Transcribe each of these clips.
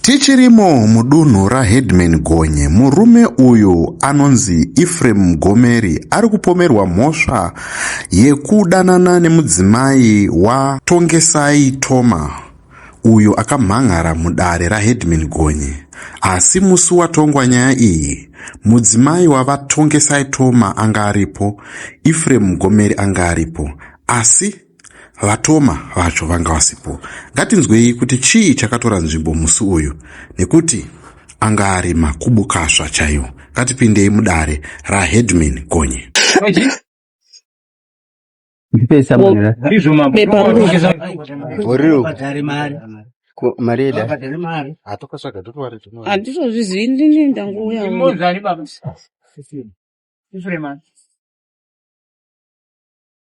Tichirimo mudunhu raHeadman Gonye, murume uyu anonzi Ephraim Mgomeri ari kupomerwa mhosva yekudanana nemudzimai waTongesai Thoma uyo akamhan'ara mudare raHeadman Gonye. Asi musi watongwa nyaya iyi, mudzimai waVaTongesai Thoma anga aripo, Ephraim Mgomeri anga aripo, asi Vatoma vacho vanga vasipo. Ngatinzwei kuti chii chakatora nzvimbo musi uyu nekuti anga ari makubukasva chaiwo. Ngatipindei mudare raHeadman Gonye. Ndipesa mwana. Boriro. Ko- Mari yeda. handizozvizivi ndini ndangouya Mozari baba. Ifrema.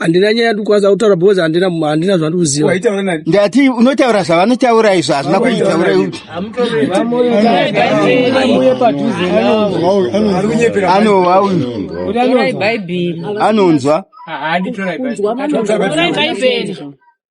handina nyaya yandikwanisa kutaura because handina handina zvandikuziva waitaura nani ndati unotaura zvavanotaura izvo hazvina kuzvitaura anova uyu anonzwa anonzwa Torai Bhaibheri.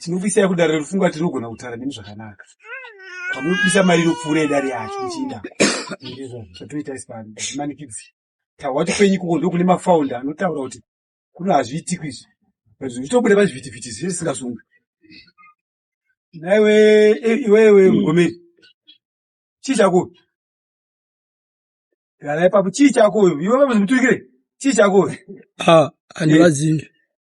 tinobisai kudare rerufunga tinogona kutara nemi zvakanaka pamunobisa mari inopfuura idare yacho ichiinda zvatoita isipano zvimanikidzi tahwa kuti kwenyu ikoko ndokune mafaunda anotaura kuti kuno hazviitiko izvi zvitobuda pazvivhitivhiti zvese singasungwi naiwe eh, iwewe hmm. mugomeri chii chako gara ipapo chii chako iwe vamuzimuturikire chii chako ah, handivazivi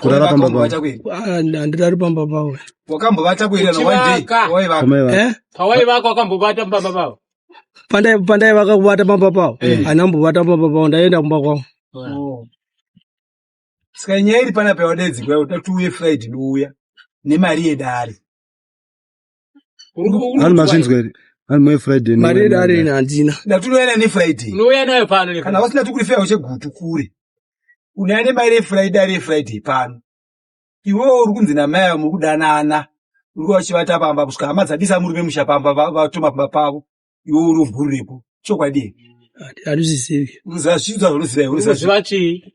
Kurara pamba pavo. Wakambovata kuiri. Ah, handirari pamba pavo Wakambovata kuiri kana one day. Kuchivaka. Waivaka. Amai vako. eh? pawaivaka wakambobata pamba pavo pandai pandai vakakubata pamba pavo anambobata pamba pavo ndaienda kumba kwavo Oh. Saka nyaya iri pana pawadaidzirwa kuti tiuye Friday douya nemari yedare. Vanhu mazvinzwa here? Vanhu mai Friday. Mari yedu ari ine handina. Ndatunoyana ne Friday. Unouya nayo pano ne Kana wasina tukuri fea ushe gutu kure. Unaya ne mai re Friday ari Friday pano. Iwewe uri kunzi na mai muri kudanana. Uri wachivata pamba kusvika hama dzabisa murume musha pamba vatoma pamba pavo. Iwewe uri mvuru repo. Chokwadi. Handizvizivi. Unozviziva zvaunoziva. Unozviziva chii?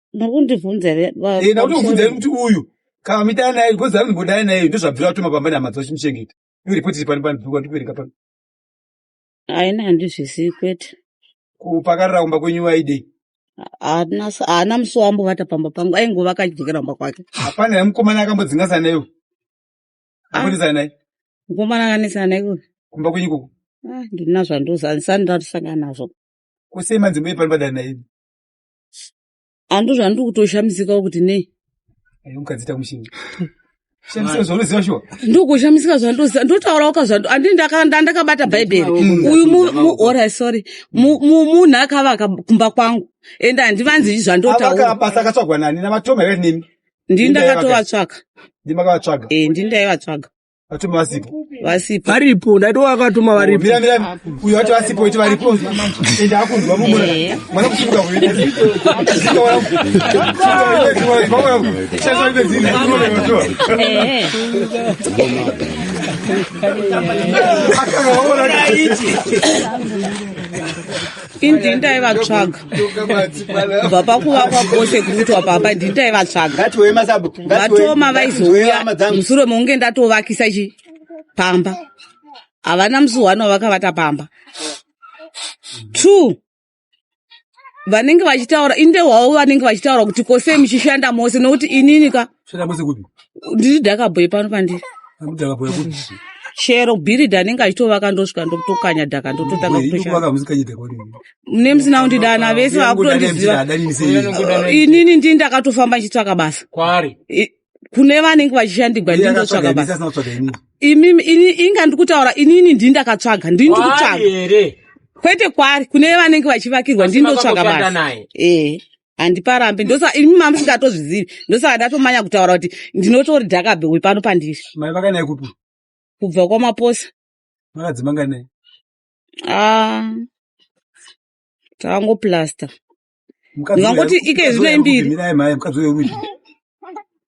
muri kundibvunza here ba- Eh, ndakuti mubvunza here kuti uyu kana midana naye because ari ndimbodana naye ndozvabvira atuma pamba nehama dzavo chimuchengeta iwe ripoti iri pano pano pano ndikuverenga pano haina handizvisiyi kwete kupakarira kumba kwenyu waidei haana s- haana musi waambovata pamba pangu aingova akachidzokera kumba kwake hapana here mukomana akambodzingasana naiwe Ah. akonesa naye mukomana akanesana naiko kumba kwenyu ikoko ndina zvandozanisa ndiratisangana nazvo kusei manzimbo iri pano padana naye Ando zvandiri kutoshamisika kuti nei. Ayo mukadzi tamushini. Shamisika zvaunoziva shuwa. Ndokushamisika zvandoziva ndotaura waka zvando andini ndakabata bhaibheri. Uyu mu ora sorry. Munhu akavaka kumba kwangu and handivanzi zvandotaura. Avaka basa akatsvagwa nani navatoma here nemi? Ndini ndakatovatsvaga. Ndimi makavatsvaga. Eh ndini ndaivatsvaga. Atuma asipo. Vasipo. Varipo, ndaito wakatuma varipo. Mira mira, uyo ati asipo iti varipo. Enda akunzwa mumura. Eh. Mwana kushuka kuita. Sika wala. Sasa wala. Eh. Akaona ichi. Indinda ivatsvaga. kubva pakuva kwabose kurutwa pamba ndini taivatsvaga vatoma vaizouya musure mounge ndatovakisa chi pamba havana musi one wavakavata pamba two vanenge vachitaura inde hwavo vanenge vachitaura kuti kosei muchishanda mose nokuti inini ka Shera kwese kupi? Ndiri dhakabhoyi pano pandiri. Ndaka boya kupi? Shero bhiridha anenge achitovaka ndosvika ndokutokanya dhaka ndototanga Boyi, kutoshanda. ndokuvaka musikanye dhaka wani. Mune musina kundidana vese Ndakudana vakutondiziva. mtira, adani sei. Inini ndini ndakatofamba ndichitsvaka basa. Kwari. I- Kune vanenge vachishandigwa ndini ndotsvaka basa. Asina kutsvaga ini. Imimi ini inga ndikutaura inini ndini ndakatsvaga ndini Kwari ndikutsvaga. here? Kwete kwari kune vanenge vachivakirwa ndini Asi ndotsvaga vakakushanda basa. naye. Eh. handiparambe ndosa imi mama musingatozvizivi ndosaka ndatomanya kutaura kuti ndinotori dhakabe uyu pano pandiri mai vakanai kupi kubva kwamaposa vakadzi manganai ah, takangoplasta ndingangoti ike zvino imbiri mirai mai mukadzi uyo rudyi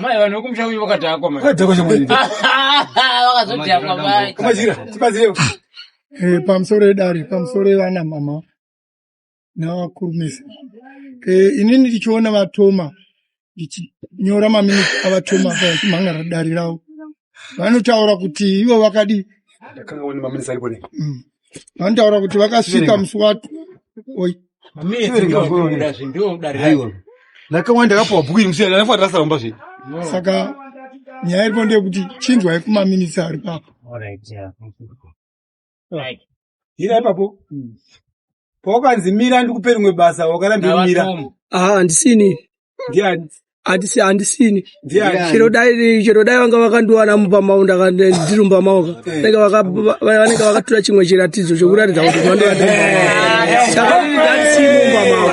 Mai vanhu vekumusha kwenyu vakadhakwa mai. Vakadhakwa shamwari. Vakazodhakwa mai. Kumajira tibazirewo. Eh pamusoro edare pamusoro evana mama navakurumisa. Eh inini ndichiona vatoma ndichinyora maminiti avatoma vachimhan'ara dare ravo vanotaura kuti ivo vakadii. Ndakanga wani maminiti aripo nei? Mm. Vandaura kuti vakasvika musi wacho. Oi. Ndakawanda kapo bhuku musi yana nafa rasa romba zve. Saka nyaya iripo ndeyekuti chinzwai kumaminitsi ari papo. Hira ipapo. Pawakanzi mira ndikupe rimwe basa wakaramba mira. Ah, handisini. ndiani handisi handisini chero dai chero dai vanga vakandiwana mupamau ndiri mupamau ka vanenge vaka- va- vanenge vakatura chimwe chiratidzo chokuratidza kuti mandova ndiri mupamau saka ini ndandisini mupamau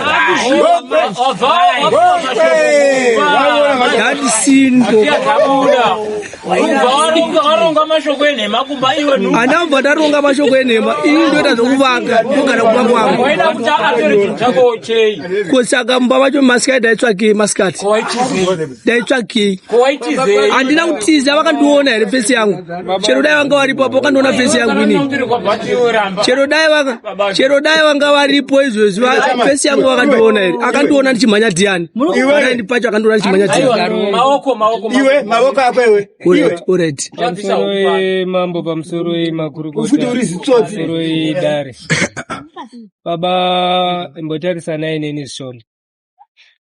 ndandisini po anamva taronga mashoko enhema ini ndoita zvokuvaka ndogara kumba kwangu ko saka mumba vacho masikati daitsvakei masikati daitsvakei handina kutiza vakandiona here fesi yangu chero dai vanga varipo apo vakandiona fesi yangu ini chero dai vanga chero dai vanga varipo izvezvi fesi yangu vakandiona here akandiona ndichimhanya dhiyani akaendi pacho akandiona ndichimhanya dhiyaniamambo pamusoro makurukuti uri zitsotsi dare baba imbotarisanai neni zvishoma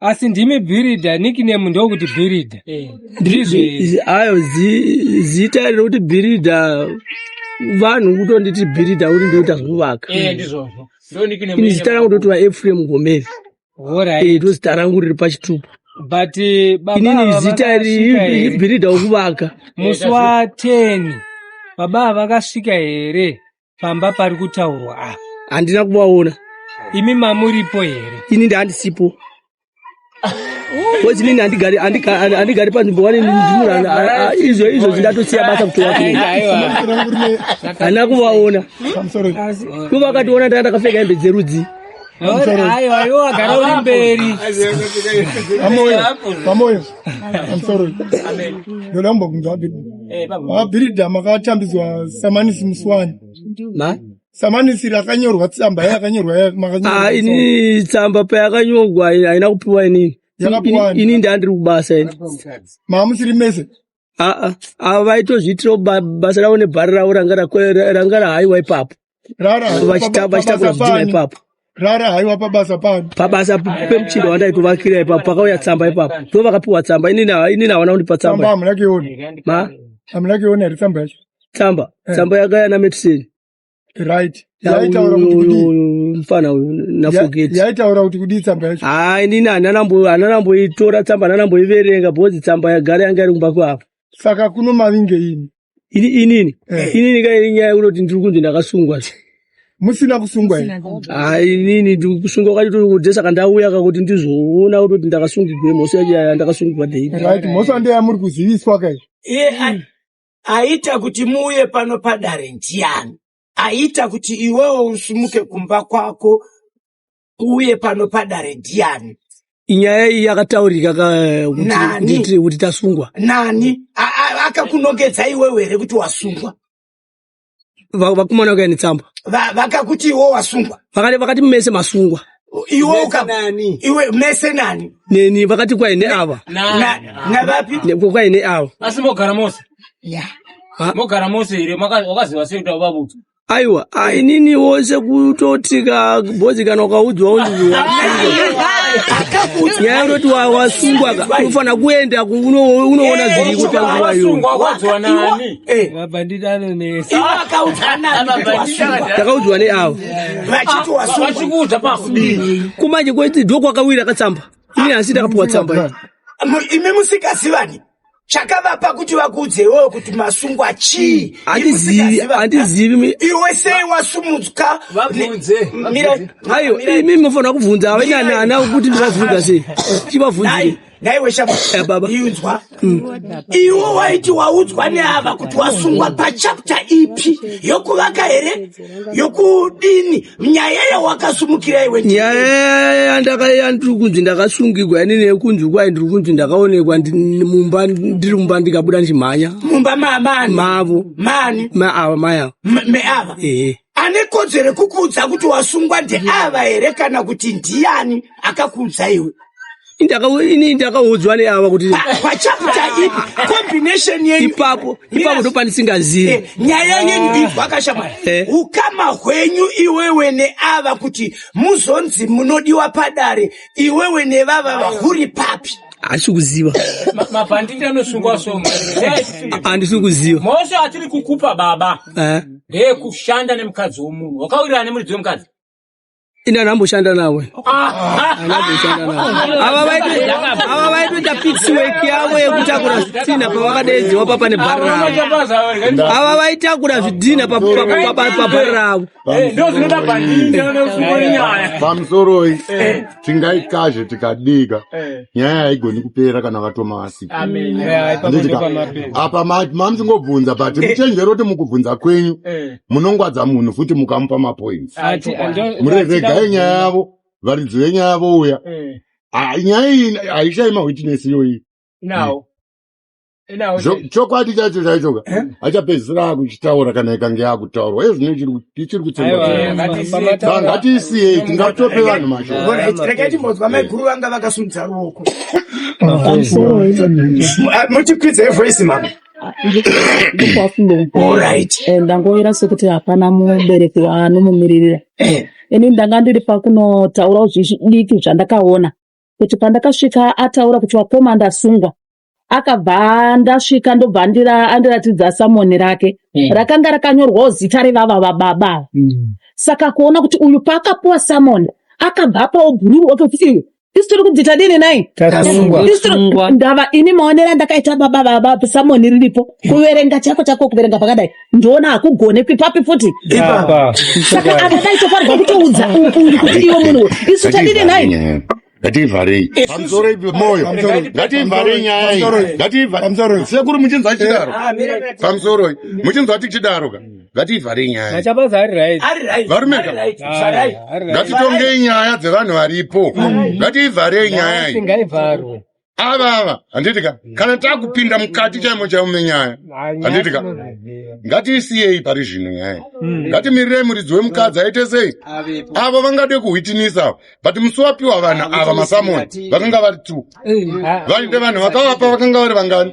asi ndimi bhiridha nickname ndokuti bhiridha eh. ndizvo ayo zita rokuti bhiridha vanhu kutonditi bhiridha kuti ndoita zvekuvaka eh, ini zita rangu ndotiwa efrem gomeri eh, ndozita rangu riri pachitupa but inini zita ribhiridha wekuvaka musi wa ten baba vakasvika here pamba pari kutaurwa apa handina kuvaona imi mamuripo here ini ndaandisipo kozi nini handigari panzvimbo wane ndimura izvo izvo zvindatosiya basa kutoa hana kuvaona ko vakationa ndaa ndakapfeka hembe dzerudzi amoyo amoyo amsorry ndoda kumbokunzwa Baba Bhiridha makatambidzwa samanisi musi wani? Ma? Samanisi rakanyorwa tsamba yakanyorwa ya- makanyorwa Ah, ini tsamba payakanyorwa haina haina kupiwa inini. Yakapiwa ani? Ini ndandiri kubasa ini. maamusiri mese. Ah, ah, ah, vaitozviitirawo ba- basa ravo nebhari ravo ranga rako- ranga rahaiwa ipapo. rara So haiwa vachita- paba- vachita pabasa kuzvidhina pani ipapo rara haiwa pabasa pani pabasa p- pemuchinda wandaikuvakira ipapo pakauya tsamba ipapo ndo vakapiwa tsamba inini ha- inini havana kundipa tsamba tsamba hamuna kuiona ma hamuna kuiona here tsamba yacho tsamba Eh. tsamba yakaya nametiseni right yaitaura kuti kudii mfana uyu Ya- nafogeti yaitaura kuti kudii tsamba yacho hayi inini hananambo- hananamboitora tsamba hananamboiverenga bhozi tsamba yagara yanga iri kumba kwavo saka kuno mavinge ini Ini inini Eh. inini ka iri nyaya unoti ndiri kunzi ndakasungwa. musina kusungwa here Ah inini ndiri kusungwa kwati tiri kudze saka ndauya ka kuti ndizoona kuti ndakasungigwe mhosva yacho yaya ndakasungigwa dei. right mhosva ndeyamuri kuziviswa kai iye a- aita kuti muuye pano padare ndiani aita kuti iwewo usimuke kumba kwako uye pano padare ndiani nyaya iyi yakataurika kuti tasungwa nani akakunongedza iwewe here kuti wasungwa vakumana kuya netsamba vakakuti iwo wasungwa vakati mese masungwa iwe ukanani iwe mese nani neni vakati kwai neava navapi kwai neava asi mogara mose mogara mose here wakaziva sei kuti avabudzwa aiwa ah, inini wose kutoti kabhozi kana ukaudzwa unziwa nyaya yototi wa- wasungwa ka unofanira kuenda ku- uno- unoona zviri kutanguva yo takaudzwa neavo vachiti wasungwa kumanje kweti ndokwakawira katsamba ini asi takapiwa tsamba iyi. imi musikazivani chakavapa kuti vakuudze iwewe kuti masungwa chii andizivi iwe sei wasumudzwa imi munofanira kubvunza avenyanana kuti ndivabvunza sei chivabvunzei naiwe shababainzwa eh, mm. iwo waiti waudzwa neava kuti wasungwa pachapta ipi yokuvaka here yokudini nyaya yawakasumukira iwe nyaya yandakaiya ndiri kunzi ndakasungigwa ini nekunzi kwai ndiri kunzi ndakaonekwa mumba ndiri mumba ndikabuda ndichimhanya mumba mamani mavo mani maava mai ava meava ehe ane kodzero kukuudza kuti wasungwa ndeava here kana kuti ndiyani akakuudza iwe ini ndakaudzwa neava kuti ipapo ipapo ndopandisingazii eh, nyaya yenyu ah. ibvaka shamwari eh. ukama hwenyu iwewe neava kuti muzonzi munodiwa padare iwewe nevava vahuri papi asi kuziva mabhanditi anosungwa so andisi kuziva mose atiri kukupa baba eh. ndeye kushanda nemukadzi womunhu wakawirirana nemuridzi wemukadzi ini anhu amboshanda navo anhu amboshanda navo ava vaito- ava vaitoita pixiwek yavo yekutakura zvitina pavakadeedzwa papa nebhari ravo ava vaitakura zvidhina pa- pa- pa- pa- pabhari ravo pamusoroi tingaikazve tikadika nyaya haigoni kupera kana vatoma vasika Handitika? apa ma- mamsingobvunza but muchenjero kuti mukubvunza kwenyu munongwadza munhu futi mukamupa mapoints Ah, ti- ah, ndo- ndo- mureregai tida- nyaya yavo varidzi venyaya yavo uya Eh, Ah, nyaya iyi haishayi mawitness iyoyi now. Now, Zvo- then. chokwadi chacho chaichoka Eh? achapedzisira akuchitaura kana ikange yakutaurwa iye zvino ichiri ku- ichiri kutsenga Aiwa, Eh, ma- ngatiisiye. pamataura- Saka ngatiisiyei Mm, tingatope rega- vanhu mashoko Bona, Ah, rega timbonzwa mai guru vanga vakasimudza ruoko Mafezi. Ah, muchikwidza evoice mama Ah, ndokwafunga kuporit eh, ndangoera sekuti hapana mubereki waanomumiririra eh. ini ndanga ndiri pakunotaura zvidiki zvandakaona kuti pandakasvika ataura kuti wakoma ndasungwa akabva ndasvika ndobva andiratidza samoni rake mm. rakanga rakanyorwawo zita revava vababa mm. saka kuona kuti uyu paakapuwa samoni akabva apawo bhururu otokuti Isu tiri kunzi tadini nai? Tasungwa. Isu tiri- Tasungwa. ndava ini maonero andakaita baba baba samoni riripo kuverenga chako chako kuverenga pakadai ndoona hakugonekwi papi futi Apa. saka apa paitofanirwa kutoudza uyu uyu kuti iwe munhu uyu. isu tadini nai? ngativharei pamusoroi pemoyo ngativharei nyaya iyi Pamusoro. ngativharei sekuru muchinzwa tichidaro pamusoroi muchinzwa tichidaro ka Ngatiivharei nyaya. Machabaza ari right. Ari right. Varume ka. Vharai. Ngatitongei nyaya dzevanhu varipo. Ngatiivharei nyaya iyi. Ngaivharwe. Ava ava handiti ka. Kana takupinda mukati chaimo chaimo menyaya. Handiti ka. Ngatiisiyei pari zvino nyaya. Ngatimirirei muridzi wemukadzi aite sei? Avo vangade kuhwitinisa but musi wapiwa vanhu ava masamoni vakanga vari two. Vainde vanhu vakavapa vakanga vari vangani?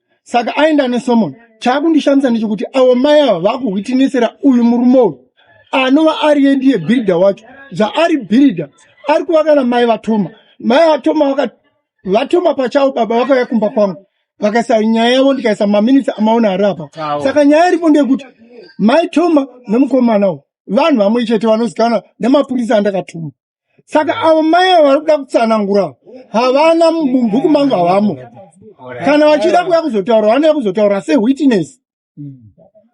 saka aenda nesomeone chaakundishamisa ndechekuti avo mai ava vakuhwitinisira uyu murume uyu anova ariye ndiye bhiridha wacho zvaari bhiridha ari kuva kana mai vatoma mai vatoma vaka vatoma pachavo baba vakauya kumba kwangu vakaisa nyaya yavo ndikaisa maminitsi amaona ari apa Awo. saka nyaya iripo ndeyekuti mai toma nemukomana uyu vanhu vamwe chete vanozikana nemapurisa andakatuma saka avo mai avo vari kuda kutsanangura havana mubhuku mangu havamo kana vachida kuya kuzotaura vanoya kuzotaura sewitness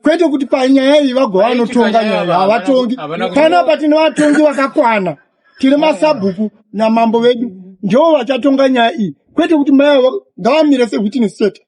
kwete kuti panyaya iyi vagova vanotonga nyaya havatongi panapa tine vatongi vakakwana tine masabhuku namambo vedu ndivo vachatonga nyaya iyi kwete kuti mai avo ngavamire sewitness chete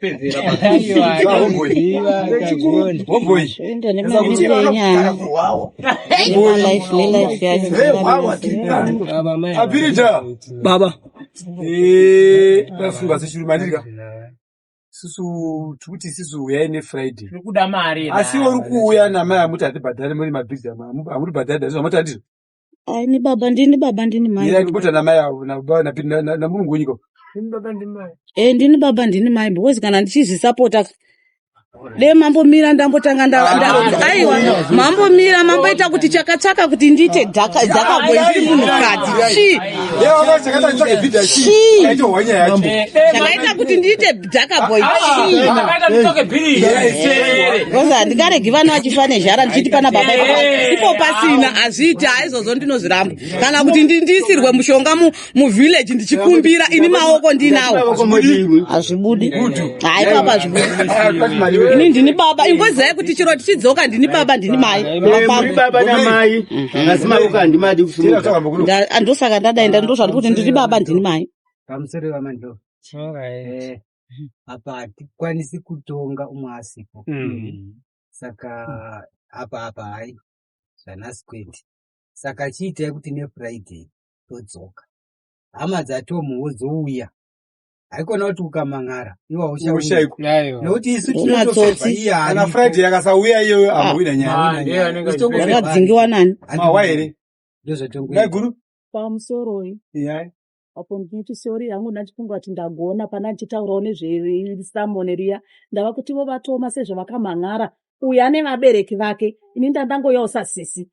pedzera apirita baba vafunga sechuru mandirika susu tikuti isisu uyai nefriday asi uri kuuya namai amuti hatibhadhare muri mabhizi amuri bhadhare dazvo amati andizvo Ai ni baba ndini baba ndini mai. Yeye akikuta na mai avo na baba na na, na, na mulungu wenyika. Ndini baba ndini mai. Eh ndini baba ndini mai because kana ndichizvisapota de mambo mira ndambotanga nda ah, aiwa mambo mira mambo ita kuti chakatsaka kuti ndiite dhaka dhaka gwenzi munhu kadzi chi chi chakaita kuti ndiite Dhakaboy Ah, chii? ah, Vakaita nditoke bhiri. Yes, eh. Because handikaregi vana vachifa nezhara ndichiti pana baba ipo pa- ipo pasina hazviiti haizvozvo ndinozviramba kana kuti ndi- ndiisirwe mushonga mu- muvillage ndichikumbira ini maoko ndinawo hazvibudi hayi papa hazvibudi ini ndini baba ingozi yayi kuti chiro tichidzoka ndini baba ndini mai Muri baba namai asi maoko handimadi kusimuka Nda- andosaka ndadaenda ndozvandikuti ndiri baba ndini mai Pamusoro pamandoro. Eh, apa hatikwanisi kutonga umwe asipo mm. saka apa apa hai zvanasi kwete saka chiitai kuti nefriday todzoka hama dzatomu wozouya haikona kuti ukamang'ara iwa ushaushaikunekuti isu tinotoana friday akasauya iyoyo ah. amboina nyayayakadzingiwa nani mawa here ndozvatongaiguru pamusoroi yai apo ndinoti sorry hangu ndandifunga kuti ndagona pana ndichitaurawo nezvesamone riya ndava kuti vo vatoma sezvavakamhan'ara uyu ane vabereki vake ini ndandangoyawo sasisi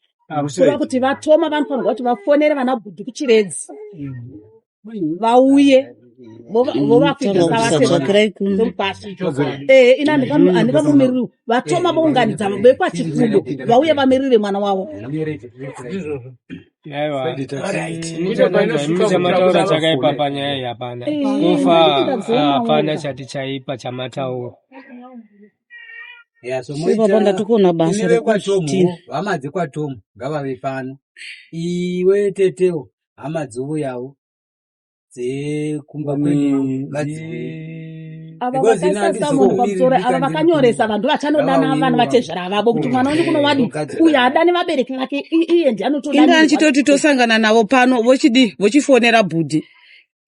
kuva kuti vatoma vanofanirwa kuti vafonere vana bhudhi kuchiredzi mm. vauye ina ndivamimiriri vatoma vounganidza vekwachikudo vauye vamirire mwana wavo mataura chakaipa panyaya iyi hapana kufa hapana chati chaipa chamataura ipapa ndatokuona basa rekuti hama dzekwatomu ngavave pano iwe tetewo hama dzouyawo dzekumba kwedu ava vakanyoresa vanhu ndovachanodana vana vatezvara avavo kuti mwana wenyu kuno wadi uye adani vabereki vake iye ndi anotoinda ndichitoti tosangana navo pano vochidii vochifonera bhudhi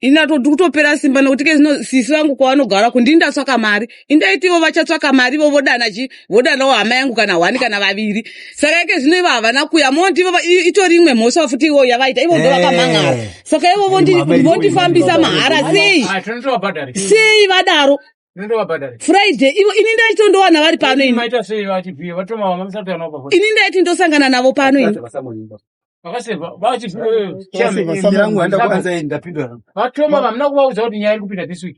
ini atoti kutopera simba nekuti ke zvino sisi vangu kwavanogara kundini ndatsvaka mari indaitivo vachatsvaka mari ivo vodana chi vodanawo hama yangu kana hwani kana vaviri saka ike zvino ivo havana kuya moti ivo itori imwe mhosva futi ivo yavaita ivo ndovakamhan'ara eh. saka ivo vondifambisa mahara sei ah, sei vadaro friday ivo ini ndaiti ndowana vari pano ini ndaiti ndosangana navo pano ini vatoma vamuna kuvaudza kuti nyaya iri kupinda this week